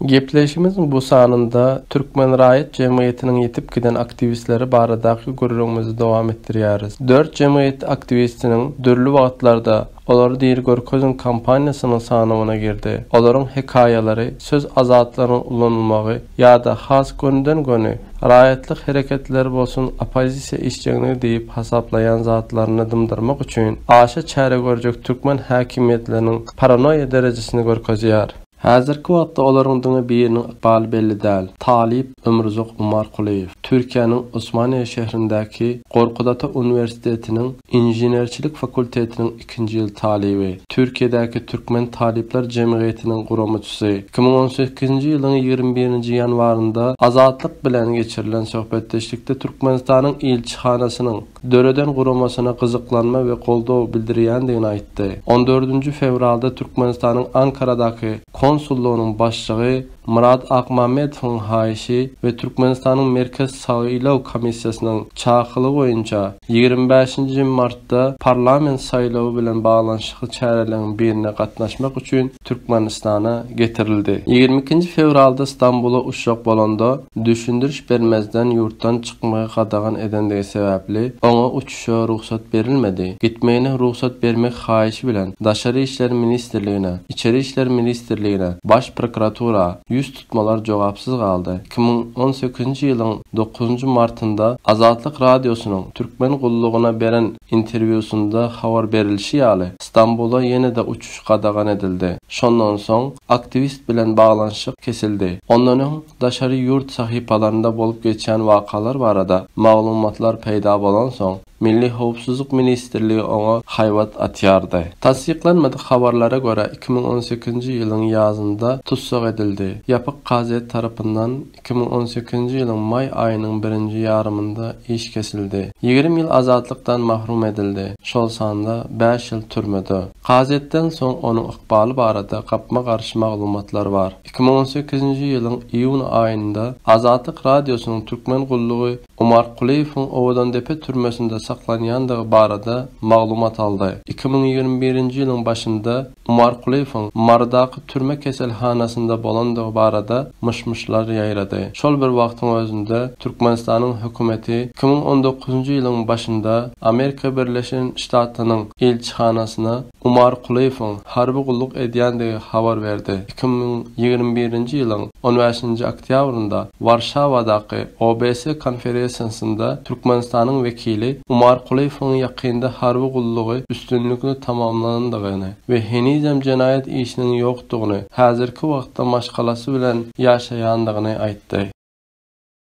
Gepleşigimiziň bu sanynda Türkmen raýat jemgyýetiniň ýitip giden aktiwistleri baradaky gürrüňimizi dowam etdirýäris. Dört jemgyýet aktiwistiniň dürli wagtlarda Olary diri görkeziň kampaniýasynyň sanawyna girdi. Olaryň hekaýalary, söz azatlygynyň ulanylmagy ýa-da has gönüden-göni raýatlyk hereketleri bolsun oppozisiýa işjeňligi diýip hasaplaýan zatlaryny dymdyrmak üçin aşa çäre görjek türkmen häkimiýetleriniň paranoýa derejesini görkezýär. Häzirki wagtda olaryň diňe biriniň ykbaly belli däl, talyp Ömruzak Umarkulyýew Türkiýäniň Osmaniýe şährindäki Gorkut Ata uniwersitetiniň Inženerçilik fakultetiniň ikinji ýyl talyby, Türkiýedäki Türkmen talyplar jemgyýetiniň guramyçysy. Iki müň on sekizinji ýylyň ýigrimi birinji ýanwarynda Azatlyk bilen geçirilen söhbetdeşlikde Türkmenistanyň ilçihanasynyň, döreden guramasyna gyzyklanma we goldaw bildirýändigini aýtdy. On dördünji fewralda Türkmenistanyň Ankaradaky konsullygynyň başlygy Myrat Akmämmedowyň haýyşy we Türkmenistanyň Merkez saýlaw komissiýasynyň çakylygy boýunça ýigrimi bäşinji martda parlament saýlawy bilen baglanyşykly çäreleriň birine gatnaşmak üçin Türkmenistana getirildi. Ýigrimi ikinji fewralda Stambula uçjak bolanda, düşündiriş bermezden ýurtdan çykmagy gadagan edendigi sebäpli, oňa uçuşa rugsat berilmedi. Gitmegine rugsat bermek haýyşy bilen Daşary işler ministrligine, Içeri işler ministrligine, Baş prokuratura ýüz tutmalar jogapsyz galdy. Iki müň on sekizinji ýylyň dokuzynjy martynda Azatlyk Radiosynyň Türkmen gullugyna beren Interwýusynda habar berilişi ýaly, Stambula ýene-de uçuş gadagan edildi. Şondan soň aktiwist bilen baglanyşyk kesildi. Ondan öň daşary ýurt sahypalarynda bolup geçýän wakalar barada maglumatlar peýda bolansoň, Milli howpsuzlyk ministrligi oňa haýbat atýardy. Tassyklanmadyk habarlara görä, iki müň on sekizinji ýylyň ýazynda tussag edildi. Ýapyk gazet tarapyndan Iki müň on sekizinji ýylyň maý aýynyň birinji ýarymynda iş kesildi. Ýigrimi ýyl azatlykdan mahrum edildi, şol sanda bäş ýyl türmede. Kazyýetden soň onuň ykbaly barada gapma-garşy maglumatlar bar. Iki müň on sekizinji ýylyň iýun aýynda Azatlyk Radiosynyň Türkmen gullugy Omar Kulyýewiň Owadandepe türmesinde saklanýandygy barada maglumat aldy. Iki müň ýigrimi birinji ýylyň başynda Omar Kulyýewiň Marydaky türme keselhanasynda bolandygy barada myş-myşlar ýaýrady. Şol bir wagtyň özünde Türkmenistanyň hökümeti iki müň on dokuzynjy ýylyň başynda Amerika Birleşen Ştatlarynyň ilçihanasyna, Umar Kulyýewiň harby gulluk edýändigi habar berdi. Iki müň ýigrimi birinji ýylyň on bäşinji oktýabrynda Warşawadaky OBS konferesiýasynda Türkmenistanyň wekili Umar Kulyýewiň ýakynda harby gullugy üstünlikli tamamlanandygyny we henizem jenaýat işiniň ýokdugyny, häzirki wagtda maşgalasy bilen ýaşaýandygyny aýtdy.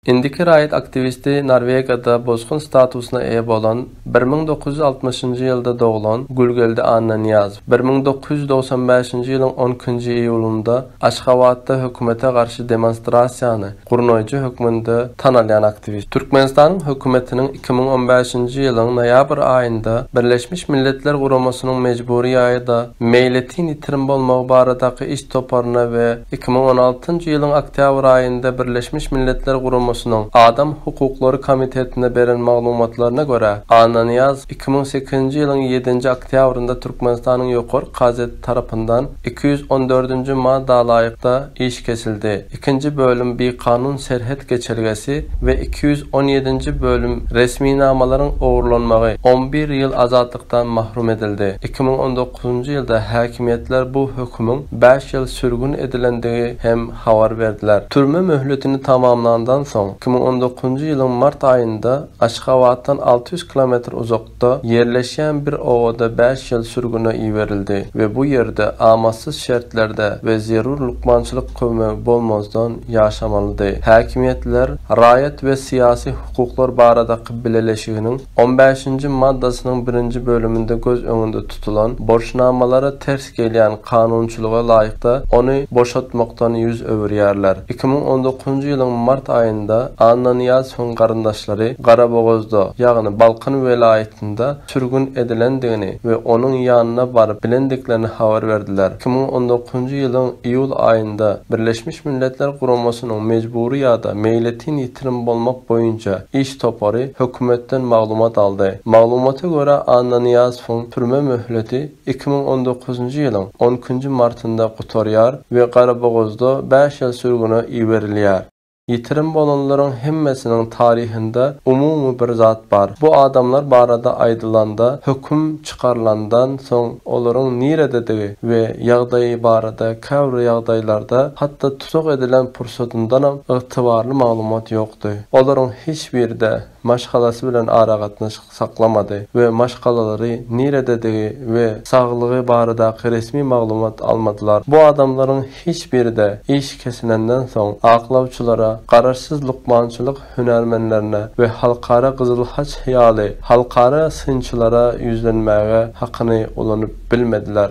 Indiki raýat aktiwisti Norwegiýada bosgun statusyna eýe bolan bir müň dokuz ýüz altmyşynjy ýylda doglan Gulgeldi Annanyýazow bir müň dokuz ýüz dogsan bäşinji ýylyň on ikinji iýulynda Aşgabatda hökümete garşy demonstrasiýany gurnaýjy hökmünde tanalýan aktiwist. Türkmenistanyň hökümetiniň iki müň on bäşinji ýylyň noýabr aýynda Birleşmiş Milletler Guramasynyň mejbury ýa-da meýletin ýitirim bolmagy baradaky iş toparyna we Iki müň on altynjy ýylyň oktýabr aýynda Birleşmiş Milletler Guramasynyň Adam hukuklary komitetine beren maglumatlaryna görä, Annanyýaz iki müň sekizinji ýylyň ýedinji oktýabrynda Türkmenistanyň Ýokary kazeti tarapyndan iki ýüz on dördünji ma dalaýykda iş kesildi, ikinji bölüm Bikanun serhet geçelgesi we iki ýüz on ýedinji bölüm Resminamalaryň ogurlanmagy on bir ýyl azatlyk azatlyklykdan mahrum edildi. Iki müň on dokuzynjy ýylda häkimiýetler bu hökümiň bäş ýyl sürgün edilendigi hem habar berdiler. Türme möhletini tamamlandan soň, iki müň on dokuzynjy ýylyň mart aýynda Aşgabatdan alty ýüz kilometr uzakda ýerleşýän bir obada bäş ýyl sürgüne iberildi we bu ýerde amatsyz şertlerde we zerur lukmançylyk kömegi bolmazdan ýaşamalydy. Häkimiýetler raýat we syýasy hukuklar baradaky bileleşiginiň, On bäşinji maddasynyň birinji bölüminde göz öňünde tutulan borçnamalara ters gelýän kanunçylyga laýykda ony boşatmakdan ýüz öwürýärler. Iki müň on dokuzynjy ýylyň mart aýynda Annanyýazowyň garyndaşlary Garabogazda, ýagny Balkan welaýatynda sürgün edilendigini we onuň ýanyna baryp bilendiklerini habar berdiler. Iki müň on dokuzynjy ýylyň iýul aýynda Birleşmiş Milletler Guramasynyň mejbury ýa-da meýletin bitirim bolmak boýunça iş topary hökümetden maglumat aldy. Maglumata görä, Annanyýazowyň türme möhleti iki müň on dokuzynjy ýylyň on ikinji martynda gutarýar we Garabogazda bäş ýyl sürgüne iberilýär. Ýitirim bolanlaryň hemmesiniň taryhynda umumy bir zat bar. Bu adamlar barada aýdylanda, höküm çykarylandan soň olaryň nirededigi we ýagdaýy barada käbir ýagdaýlarda hatda tussag edilen pursatyndanam ygtybarly maglumat ýokdy. Olaryň hiç biri-de maşgalasy bilen aragatnaşyk saklamady we maşgalalary nirededigi we saglygy baradaky resmi maglumat almadylar. Bu adamlaryň hiç biri-de iş kesilenden soň aklawçylara, garaşsyz lukmançylyk hünärmenlerine we Halkara Gyzyl Haç ýaly halkara synçylara ýüzlenmäge hakyny ulanyp bilmediler.